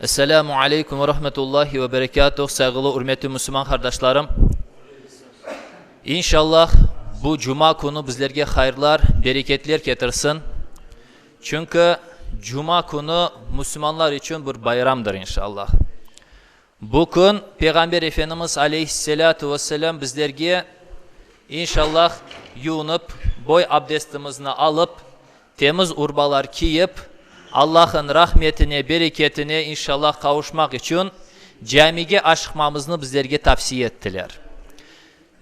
Esselamu aleykum ve rahmetullahi ve berekâtuh, sayğılı ürmetü müsülman qardaşlarım. İnşallah bu cuma künü bizlerge hayırlar, bereketler ketirsin. Çünki cuma künü müsülmanlar içün bir bayramdır inşallah. Bu kün Peyğamber Efendimiz aleyhisselâtu vesselâm bizlerge, İnşallah, yuunıp, boy abdestimizni alıp, temiz urbalar kiyip, Allahın rahmetine, bereketine, İnşallah, qavuşmaq içün camige aşıqmamıznı bizlerge tavsiye ettiler.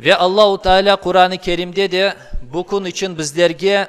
Ve Allahu Teala Quran-ı Kerimde de bu kün içün bizlerge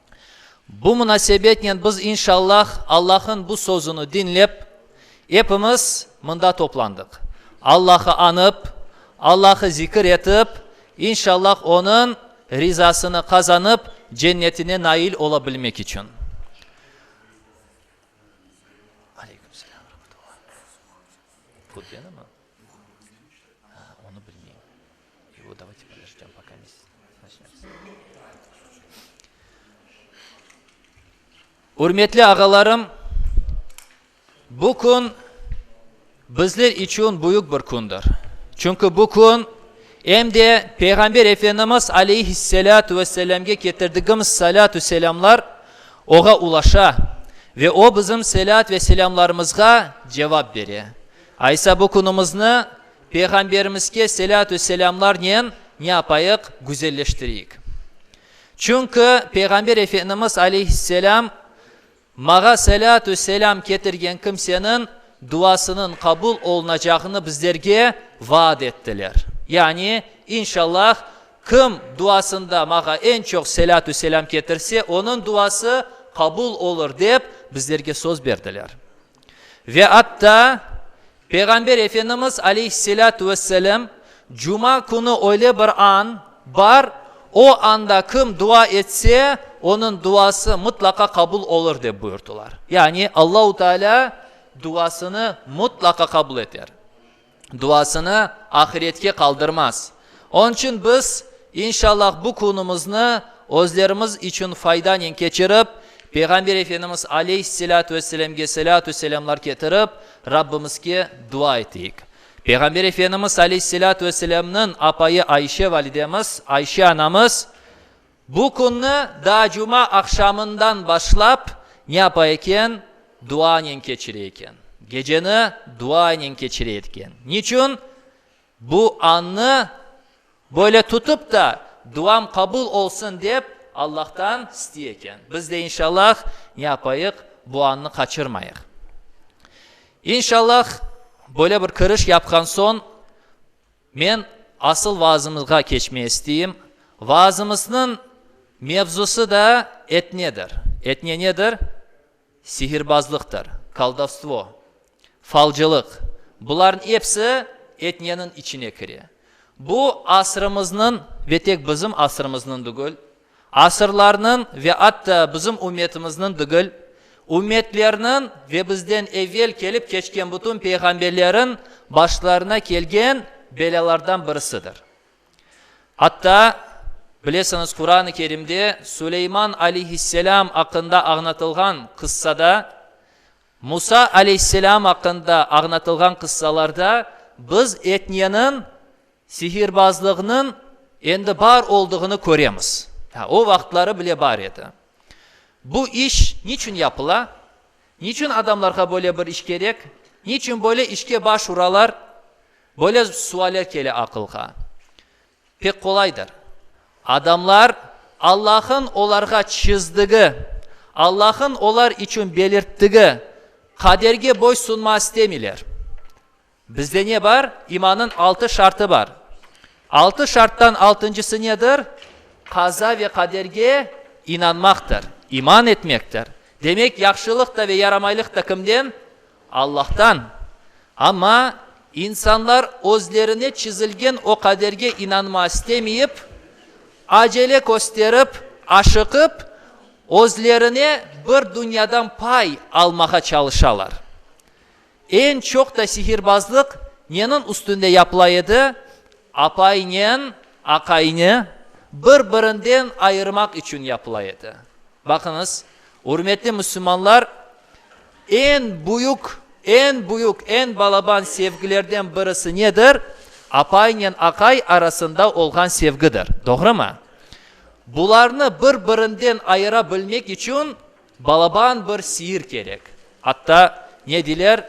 Bu munasebetnen biz, inşallah, Allahın bu sözüni diñlep, epimiz mında toplandıq. Allahı añıp, Allahı zikir etip, inşallah, Onıñ rizasını qazanıp, Cennetine nail ola bilmek içün. Ürmetli ağalarım, bu kün bizler içün büyük bir kündür. Çünki bu kün em de Peyğamber Efendimiz Aleyhisselâtu ve Selâmge ketirdigimiz salâtu selâmlar Oğa ulaşa ve O bizim selât ve selâmlarımızğa cevap bere. Aysa bu künümizni, Peyğamberimizge selâtü selâmlarnen ne yapayıq? Güzelleştireyik. Çünki Peyğamber Efendimiz aleyhisselâm, Mağa selâtü selâm ketirgen kimseniñ duasınıñ qabul olunacağını bizlerge vaad ettiler. Yani, İnşallah, kim duasında Mağa eñ çoq selâtü selâm ketirse, onıñ duası qabul olur, dep bizlerge söz berdiler. Ve atta Peyğamber Efendimiz aleyhisselâtu vesselâm, Cuma künü öyle bir an bar, o anda kim dua etse, onıñ duası mıtlaqa qabul olur, dep buyurdılar. Yani Allahu Teala duasını mıtlaqa qabul eter. duasını ahiretke qaldırmaz. Onıñ içün biz, inşallah, bu künümizni özlerimiz içün faydanen keçirip, Peyğamber Efendimiz aleyhisselâtu vesselâmge selâtu selâmlar ketirip, Rabbimizge dua eteyik. Peyğamber Efendimiz aleyhisselâtu vesselâmnıñ apayı Ayşe validemiz, Ayşe anamız, Bu künni daa cuma aqşamından başlap ne yapa eken? Duanen keçire eken. Geceni duanen keçire etken. Niçün? Bu annı böyle tutıp ta, duam qabul olsun dep Allahtan isti eken. Biz de inşallah ne yapayıq? Bu annı qaçırmayıq. İnşallah böyle bir kiriş yapqan soñ, Men asıl vaazımızğa keçmey isteyim. Vaazımıznıñ mevzusı da etnedir. Etne nedir? Sihirbazlıqtır, koldovstvo, falcılıq. Bularnıñ episi etneniñ içine kire. Bu asrımıznıñ ve tek bizim asrımıznıñ degil, Asırlarnıñ ve atta bizim ümmetimizniñ degil, ümmetlerniñ ve bizden evel kelip keçken bütün peyğamberleriñ başlarına kelgen belâlardan birisidir. Atta, bilesiñiz, Quran-ı Kerimde Suleyman aleyhisselâm aqqında añlatılğan qıssada, Musa aleyhisselâm aqqında añlatılğan qıssalarda biz etneniñ, Sihirbazlıgnıñ endi bar olduğını köremiz. Ha, o vaqıtları bile bar edi. Bu iş niçün yapıla? Niçün adamlarğa böyle bir iş kerek? Niçün böyle işke baş uralar? Böyle sualler kele aqılğa. Pek qolaydır. Adamlar Allah'ın olarğa çizdigi, Allah'ın olar içün belirtdigi qaderge boy sunma istemeyler. Bizde ne bar? İmannıñ altı şartı bar. Altı şarttan altıncısı nedir? Qaza ve qaderge inanmaqtır, iman etmektir. Demek, yahşılıq da ve yaramaylıq da kimden? Allahtan. Amma insanlar özlerine çizilgen o qaderge inanma istemeyip, acele kösterip, aşıqıp, özlerine bir dünyadan pay almağa çalışalar. Eñ çoq da sihirbazlıq neniñ üstünde yapıla edi? Apaynen aqayni bir-birinden ayırmaq içün yapıla edi. Baqıñız, ürmetli müsülmanlar, eñ büyük, eñ büyük, eñ balaban sevgilerden birisi nedir? Apaynen aqay arasında olğan sevgidir. Doğrumı? Bularnı bir-birinden ayıra bilmek içün, Balaban bir siir kerek. Atta ne diler,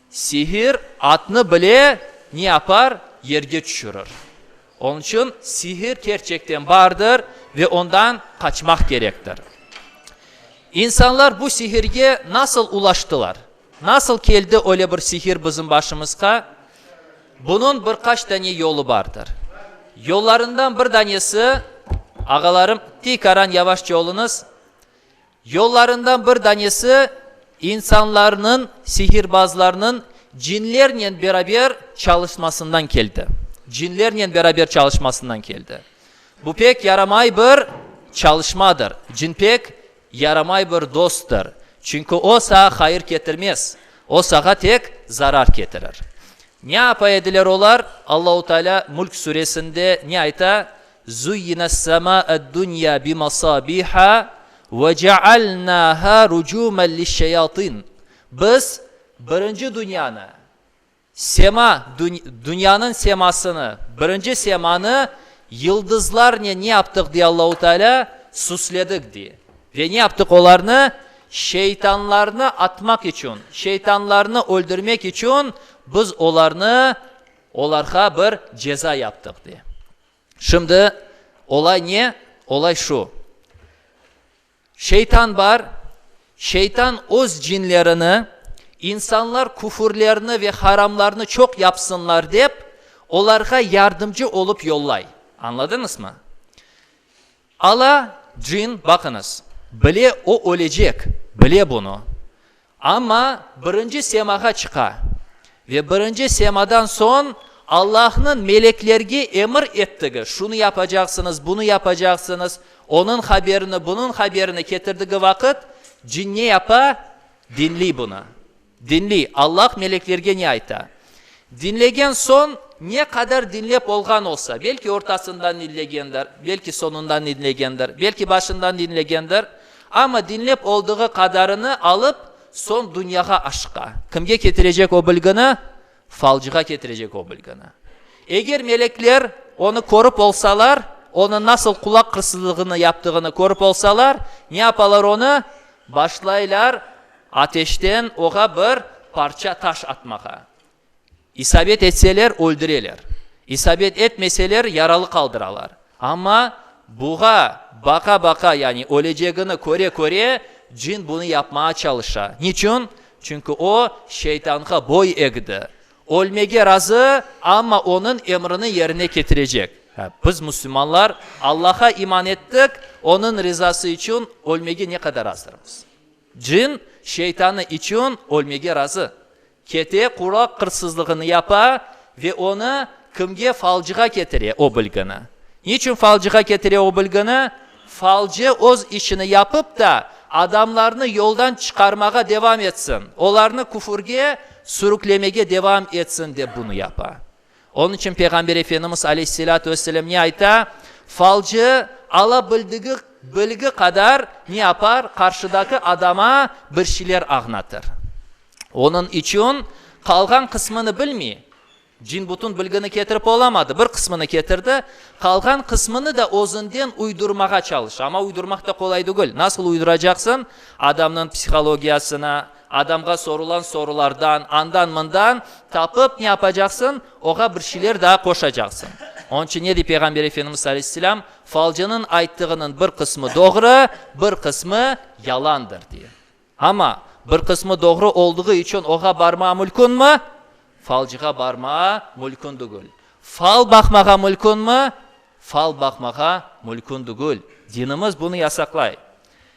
Siir atnı bile ne yapar, yerge tüşürir. Onıñ içün siir kerçekten bardır ve ondan qaçmaq kerektir. İnsanlar bu siirge nasıl ulaştılar? Nasıl keldi öyle bir siir bizim başımızqa? Bunıñ bir qaç dane yolu bardır. Yollarından bir danesi, ağalarım, tiykaran yavaşça oluñız, Yollarından bir danesi insanlarnıñ, sihirbazlarnıñ cinlernen beraber çalışmasından keldi. Cinlernen beraber çalışmasından keldi. Bu pek yaramay bir çalışmadır. Cin pek yaramay bir dosttır. Çünki o sağa hayır ketirmez. O sağa tek zarar ketirir. Ne yapa ediler olar? Allahu Teala Mulk Suresinde ne ayta? Zuyyina s-semâ'ed-dünya bi-masâbiha ve ce'alnâhâ rucûmen liş-şeyatîn, Biz birinci dünyanı, sema, dünyanıñ semasını, birinci semanı yıldızlarnen ne yaptıq, dey Allahu Teala, süsledik, dey. Ve ne yaptıq olarnı? Şeytanlarnı atmaq içün, şeytanlarnı öldürmek içün biz olarnı, olarğa bir ceza yaptıq, dey. Şimdi olay ne? Olay şu, şeytan bar, şeytan öz cinlerini insanlar küfürlerni ve haramlarnı çoq yapsınlar dep, olarğa yardımcı olıp yollay. Añladıñızmı? Ala, cin, baqıñız, bile o ölecek, bile bunı. Amma birinci semağa çıqa ve birinci semadan soñ Allahnıñ meleklerge emir ettigi, şunı yapacaqsıñız, bunı yapacaqsıñız, onıñ haberini, bunıñ haberini ketirdigi vaqıt cin ne yapa, diñley bunı. Diñley, Allah meleklerge ne ayta. Diñlegen soñ, ne qadar diñlep olğan olsa, belki ortasından diñlegendir, belki soñundan diñlegendir, belki başından diñlegendir, amma diñlep oldığı qadarını alıp, soñ dünyağa aşıqa. Kimge ketirecek o bilgini? Falcığa ketirecek o bilgini. Eger melekler onı körip olsalar, onı nasıl qulaq qırsızlığını yaptığını körip olsalar, ne yapalar onı? Başlaylar ateşten oğa bir parça taş atmağa. İsabet etseler, öldüreler. İsabet etmeseler, yaralı qaldıralar. Amma buğa baqa-baqa, yani ölecegini köre-köre, cin bunı yapmağa çalışa. Niçün? Çünki o, şeytanğa boy egdi. Ölmege razı, amma onıñ emrini yerine ketirecek. Biz, müslümanlar, Allaha iman ettik, onıñ rızası içün ölmege ne qadar azdırmız? Cin, şeytanı içün ölmege razı. Kete quraq qırsızlığını yapa ve onı kimge falcığa ketire o bilgini. Niçün falcığa ketire o bilgini? Falcı öz işini yapıp da, adamlarnı yoldan çıqarmağa devam etsin, olarnı küfürge sürüklemege devam etsin dep bunı yapa. Onıñ içün Peyğamber Efendimiz aleyhisselâtu vesselâm ne ayta, Falcı alabildigi bilgi qadar ne yapar, qarşıdaki adama bir şeyler añatır. Onıñ içün qalğan qısmını bilmey. Cin bütün bilgini ketirip olamadı, bir qısmını ketirdi, qalğan qısmını da özünden uydurmağa çalıştı. Amma uydurmaq da qolay degil. Nasıl uyduracaqsıñ adamnıñ psihologiyasına, Adamğa sorulan sorulardan, andan-mından tapıp ne yapacaqsıñ? Oğa bir şeyler daa qoşacaqsıñ. Onıñ içün ne dey Peyğamber Efendimiz aleyhisselâm? Falcınıñ ayttığınıñ bir qısmı doğru, bir qısmı yalandır, dey. Amma bir qısmı doğru olduğu içün oğa barmağa mülkünmi? Falcığa barmağa mülkün degil. Fal baqmağa mülkünmi? Fal baqmağa mülkün degil. Dinimiz bunı yasaqlay.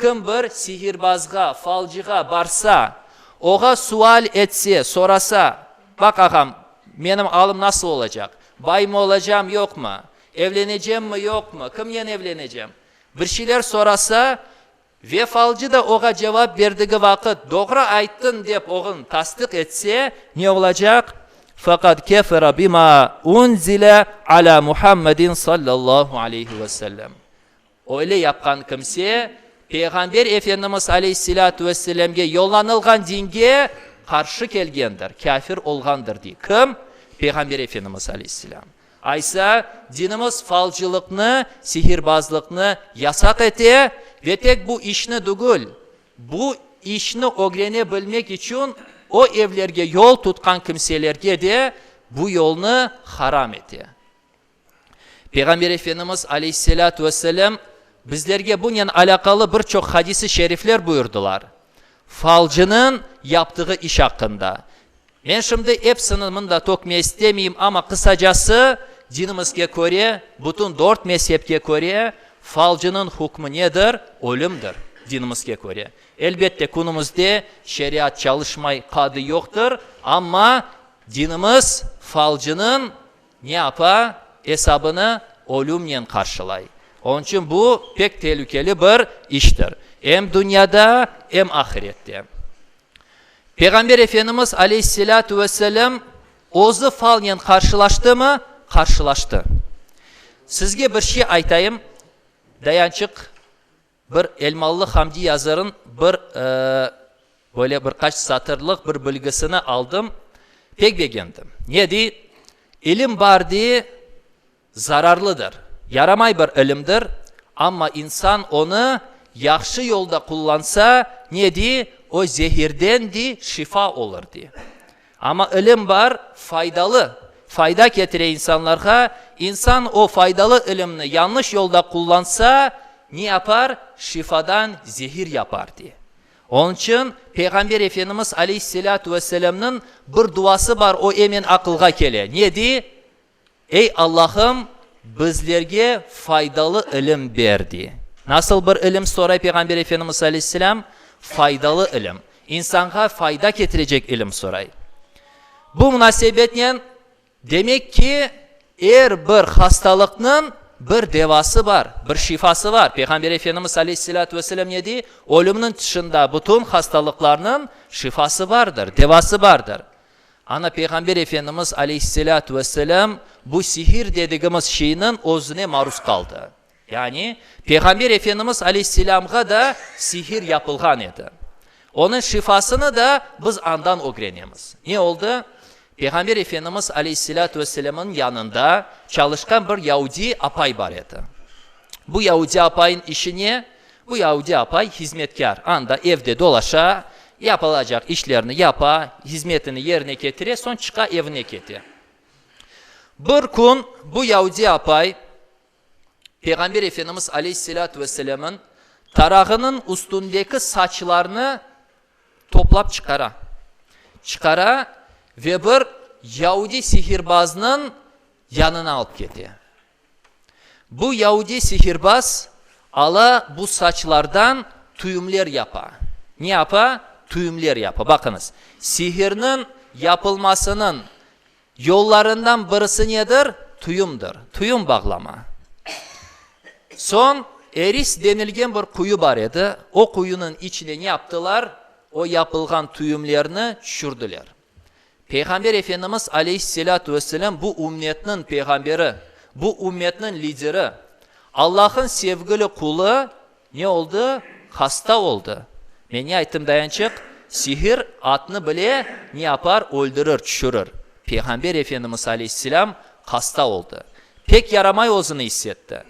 Kim bir sihirbazğa, falcığa barsa, oğa sual etse, sorasa, Baq, ağam, menim alım nasıl olacaq? Baymı olacam, yoqmı? Evlenecemmi, yoqmı? Kimnen evlenecem? Bir şeyler sorasa ve falcı da oğa cevap berdigi vaqıt doğru ayttıñ dep oğun tasdıq etse, ne olacaq? Faqad kefere bima unzile ala Muhammedin sallallahu aleyhi ve sellem. Öyle yapqan kimse, Peyğamber Efendimiz aleyhisselâtu vesselâmge yollanılğan dinge qarşı kelgendir, kâfir olğandır, dey. Kim? Peyğamber Efendimiz aleyhisselâm. Aysa, dinimiz falcılıqnı, sihirbazlıqnı yasaq ete ve tek bu işni dugul, bu işni ögrene bilmek içün o evlerge yol tutqan kimselerge de bu yolnı haram ete. Peyğamber Efendimiz aleyhisselâtu vesselâm bizlerge bunen alâqalı bir çoq hadisi şerifler buyurdılar, falcınıñ yaptığı iş aqqında. Men şimdi epsini mında tökme istemeyim, amma qısacası, dinimizge köre, bütün dört mezhebke köre, falcınıñ hükmü nedir? Ölümdir, dinimizge köre. Elbette, künümizde şeriat çalışmay, qadı yoqtır, amma dinimiz falcınıñ. Ne apa, esabını ölümnen qarşılay. Onıñ içün bu, pek telükeli bir iştir, em dünyada, em ahirette. Peyğamber Efendimiz aleyhisselâtu vesselâm özü falnen qarşılaştımı? Qarşılaştı. Sizge bir şey aytayım, Dayançıq. Bir elmalı Hamdi yazırın bir, böyle bir qaç satırlıq bir bilgisini aldım, pek begendim. Ne dey, İlim bar dey, zararlıdır, yaramay bir ilimdir, amma insan onı yahşı yolda qullansa, ne dey, o zehirden dey, şifa olur dey. Amma ilim bar, faydalı, fayda ketire insanlarğa, insan o faydalı ilimni yanlış yolda qullansa, ne yapar, şifadan zehir yapar, diye. Onıñ içün Peyğamber Efendimiz aleyhisselâtu vesselâmnıñ bir duası bar, o emen aqılğa kele, ne dey? Ey Allahım, bizlerge faydalı ilim ber, dey. Nasıl bir ilim, soray Peyğamber Efendimiz aleyhisselâm? Faydalı ilim. İnsanğa fayda ketirecek ilim soray. Bu munasebetnen, demek ki, er bir hastalıqnıñ bir devası bar, bir şifası bar. Peyğamber Efendimiz aleyhisselâtu vesselâm ne dey? Ölümniñ tışında bütün hastalıqlarnıñ şifası bardır, devası bardır. Ana Peyğamber Efendimiz aleyhisselâtu vesselâm bu sihir dedigimiz şeyniñ özüne maruz qaldı. Yani, Peyğamber Efendimiz aleyhisselâmğa da sihir yapılğan edi. Onıñ şifasını da biz andan ögrenemiz. Ne oldı? Peyğamber Efendimiz aleyhisselâtu vesselâmınıñ yanında çalışqan bir yaudi apay bar edi. Bu yaudi apayınıñ işi ne? Bu yahudi apay hizmetkâr, anda evde dolaşa, yapılacaq işlerni yapa, hizmetini yerine ketire, soñ çıqa, evine kete. Bir kün bu yahudi apay Peyğamber Efendimiz aleyhisselâtu vesselemniñ tarağınıñ üstündeki saçlarnı toplap çıqara. Çıqara ve bir yahudi sihirbaznıñ yanına alıp kete. Bu yaudiy sihirbaz ala bu saçlardan tüyümler yapa. Ne yapa? Tüyümler yapa. Baqıñız, sihirniñ yapılmasınıñ yollarından birisi nedir? Tüyümdir. Tüyüm bağlama. Soñ Eris denilgen bir quyu bar edi. O quyunıñ içine ne yaptılar? O yapılğan tüyümlerni tüşürdiler. Peyğamber Efendimiz aleyhisselâtu vesselâm bu ümmetniñ peyğamberi, bu ümmetniñ lideri. Allah'ın sevgili qulı ne oldı? Hasta oldı. Men ne ayttım dayançıq? Sihir atnı bile ne yapar? Öldürir, çüşürir. Peyğamber Efendimiz aleyhisselâm hasta oldı. Pek yaramay özüni issetti.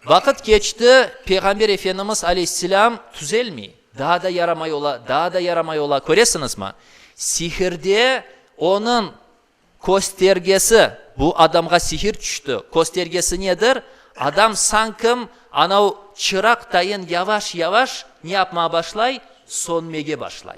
Vaqıt keçti, Peyğamber Efendimiz aleyhisselâm tüzelmey, daa da yaramay ola, daa da yaramay ola. Köresiñizmi? Sihirde onıñ köstergesi, bu adamğa sihir tüşti, köstergesi nedir? Adam sankim anav çıraq tayın yavaş-yavaş ne yapmağa başlay? Sönmege başlay.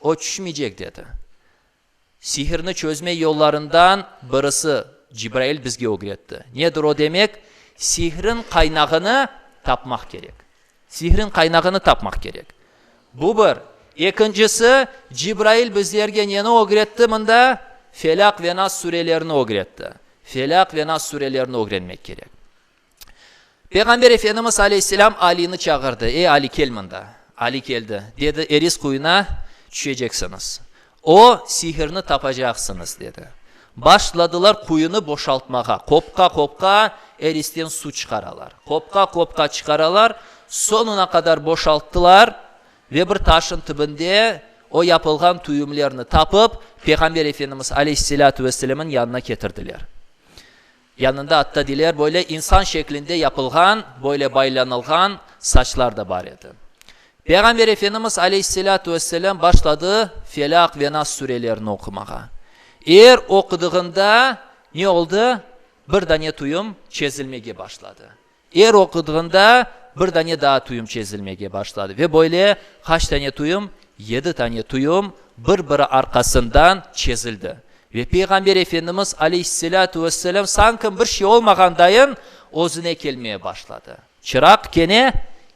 O çüşmeycek, dedi. Sihirni çözme yollarından birisi Cibrail bizge ögretti. Nedir o? Demek, sihrin qaynağını tapmaq kerek. Sihrin qaynağını tapmaq kerek. Bu bir. Ekincisi, Cibrail bizlerge neni ögretti mında? Felâk ve Nas sürelerini ögretti. Felâk ve Nas sürelerini ögrenmek kerek. Peyğamber Efendimiz aleyhisselâm Alini çağırdı, Ey, Ali, kel mında! Ali keldi. Dedi, Eris quyuna tüşeceksiñiz. O, sihirni tapacaqsıñız, dedi. Başladılar quyunı boşaltmağa, qopqa-qopqa Eristen su çıqaralar. Qopqa-qopqa çıqaralar, soñuna qadar boşalttılar ve bir taşın tübünde o yapılğan tüyümlerni tapıp, Peyğamber Efendimiz aleyhisselâtu vesselemniñ yanına ketirdiler. Yanında attadiler böyle insan şeklinde yapılğan, böyle baylanılğan saçlar da bar edi. Peyğamber Efendimiz aleyhisselâtu vesselâm başladı Felâk ve Nas sürelerini oqumağa. Er oqudığında ne oldı? Bir dane tuyum çezilmege başladı. Er oqudığında bir dane daa tuyum çezilmege başladı ve böyle qaç dane tuyum, yedi dane tuyum bir-biri arqasından çezildi. Ve Peyğamber Efendimiz aleyhisselâtu vesselâm sanki bir şey olmağandayın özüne kelmeye başladı. Çıraq kene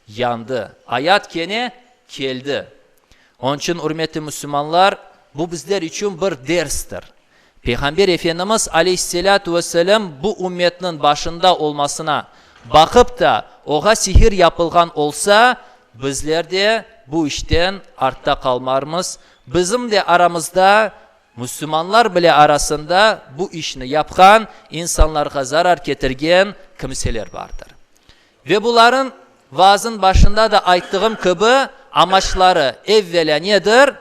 yandı, ayat kene keldi, Onıñ içün, ürmetli müsülmanlar, bu bizler içün bir derstir. Peyğamber Efendimiz aleyhisselâtu vesselâm bu ümmetniñ başında olmasına baqıp ta, oğa sihir yapılğan olsa, bizler de bu işten artta qalmarmız, bizim de aramızda, müsülmanlar bile arasında bu işni yapqan, insanlarğa zarar ketirgen kimseler bardır. Ve buların, vaazın başında da ayttığım kibi, amaçları, evvelâ nedir?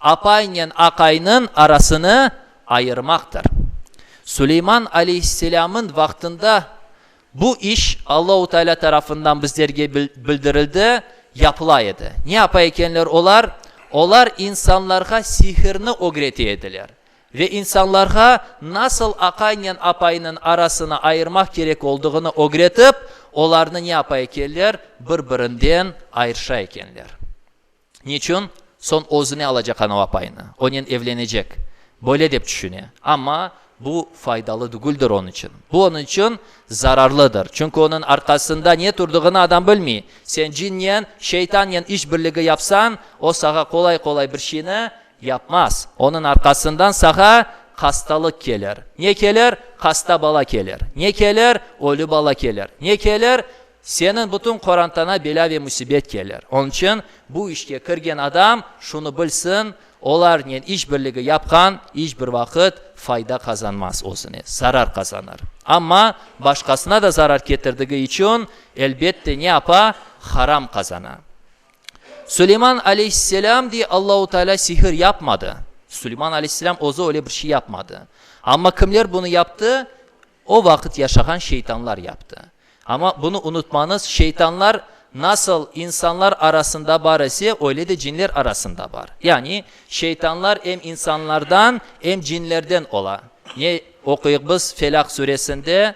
Apaynen aqaynıñ arasını ayırmaqtır. Suleyman aleyhisselâmın vaqtında bu iş Allahu Teala tarafından bizlerge bildirildi, yapıla edi. Ne yapa ekenler olar? Olar insanlarğa sihirni ögrete ediler. Ve insanlarğa nasıl aqaynen apaynıñ arasını ayırmaq kerek olduğını ögretip, olarnı ne yapa ekenler, bir-birinden ayırşa ekenler. Niçün? Soñ özüne alacaq anav apaynı, onen evlenecek, böyle dep tüşüne. Amma bu faydalı degildir onıñ içün. Bu onıñ içün zararlıdır. Çünki onıñ arqasında ne turdığını adam bilmey. Sen cinnen, şeytannen iş birligi yapsañ, o sağa qolay-qolay bir şeyni Yapmaz. Onıñ arqasından sağa hastalıq kelir. Ne kelir? Hasta bala kelir. Ne kelir? Ölü bala kelir. Ne kelir? Seniñ bütün qorantaña belâ ve müsibet kelir. Onıñ içün bu işke kirgen adam şunı bilsin, olarnen iş birligi yapqan iç bir vaqıt fayda qazanmaz, özüne zarar qazanır. Amma başqasına da zarar ketirdigi içün, elbette, ne apa? Haram qazana. Suleyman aleyhisselâm de Allahu Teala sihir yapmadı. Suleyman aleyhisselâm özü öyle bir şey yapmadı. Amma kimler bunı yaptı? O vaqıt yaşağan şeytanlar yaptı. Amma bunı unutmañız, şeytanlar nasıl insanlar arasında bar ise, öyle de cinler arasında bar. Yani şeytanlar em insanlardan, em cinlerden ola. Ne oquyıq biz Felâk Suresinde?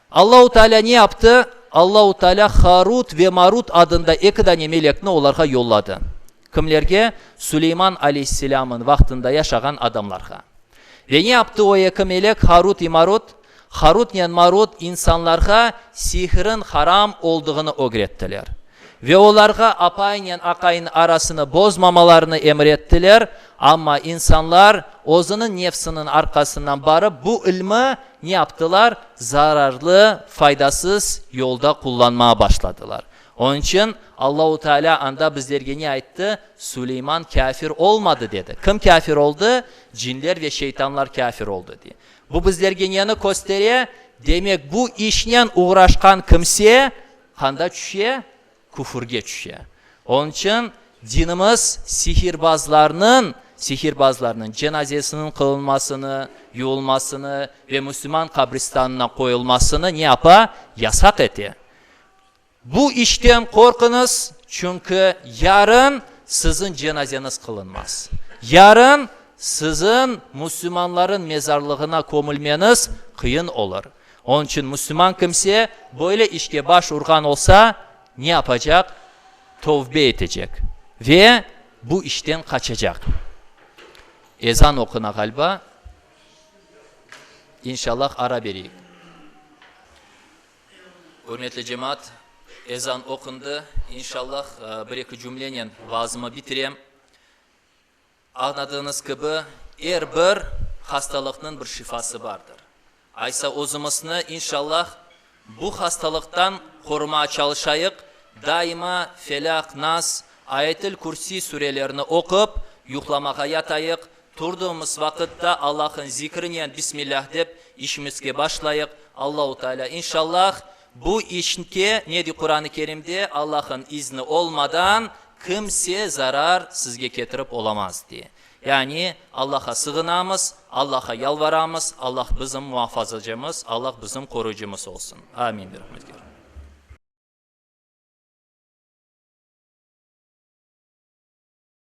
Allahu Taalâ ne yaptı? Allahu Taalâ Harut ve Marut adında eki dane melekni olarğa yolladı. Kimlerge? Suleyman aleyhisselâmın vaqtında yaşağan adamlarğa. Ve ne yaptı o eki melek, Harut i Marut? Harutnen Marut insanlarğa sihrin haram olduğını ögrettiler. Ve olarğa apaynen aqayınıñ arasını bozmamalarını emir ettiler, amma insanlar, özüniñ nefsiniñ arqasından barıp, bu ilmi Ne yaptılar? Zararlı, faydasız yolda qullanmağa başladılar. Onıñ içün Allahu Teala anda bizlerge ne ayttı? Suleyman kâfir olmadı, dedi. Kim kâfir oldı? Cinler ve şeytanlar kâfir oldı, diye. Bu bizlerge neni köstere? Demek, bu işnen oğraşqan kimse qanda çüşe? Küfürge tüşe. Onıñ içün dinimiz sihirbazlarnıñ, sihirbazlarnıñ, cenazesiniñ qılınmasını, yuvulmasını ve müslüman qabristanına qoyulmasını ne yapa? Yasaq ete. Bu işten qorquñız, çünki yarın siziñ cenazeñiz qılınmaz. Yarın siziñ müslümanlarıñ mezarlığına kömülmeñiz qıyın olur. Onıñ içün müslüman kimse böyle işke baş urğan olsa, ne yapacaq? Tövbe etecek ve bu işten qaçacaq. Ezan oquna ğaliba. İnşallah ara bereyik. Ürmetli cemaat, ezan oqundı. İnşallah bir-eki cümlenen vaazımı bitirem. Añladığınız kibi, er bir hastalıqnıñ bir şifası bardır. Aysa özümizni, inşallah, bu hastalıqtan qorumağa çalışayıq, daima Felâq, Nas, Ayetil Kürsiy sürelerini oqup, yuqlamağa yatayıq, turdığımız vaqıtta Allah'ıñ zikrinen Bismillah dep işimizge başlayıq, Allahu Teala, inşallah, Bu içnke nedi Quranı Kerimde Allahın izni olmadan kimse zarar sizge ketirip olamaz diye. Yani Allaha sığınamız, Allaha yalvaramız, Allah bizim muafazacımız, Allah bizim qoruyıcımız olsun. Amin, birahmetgâr.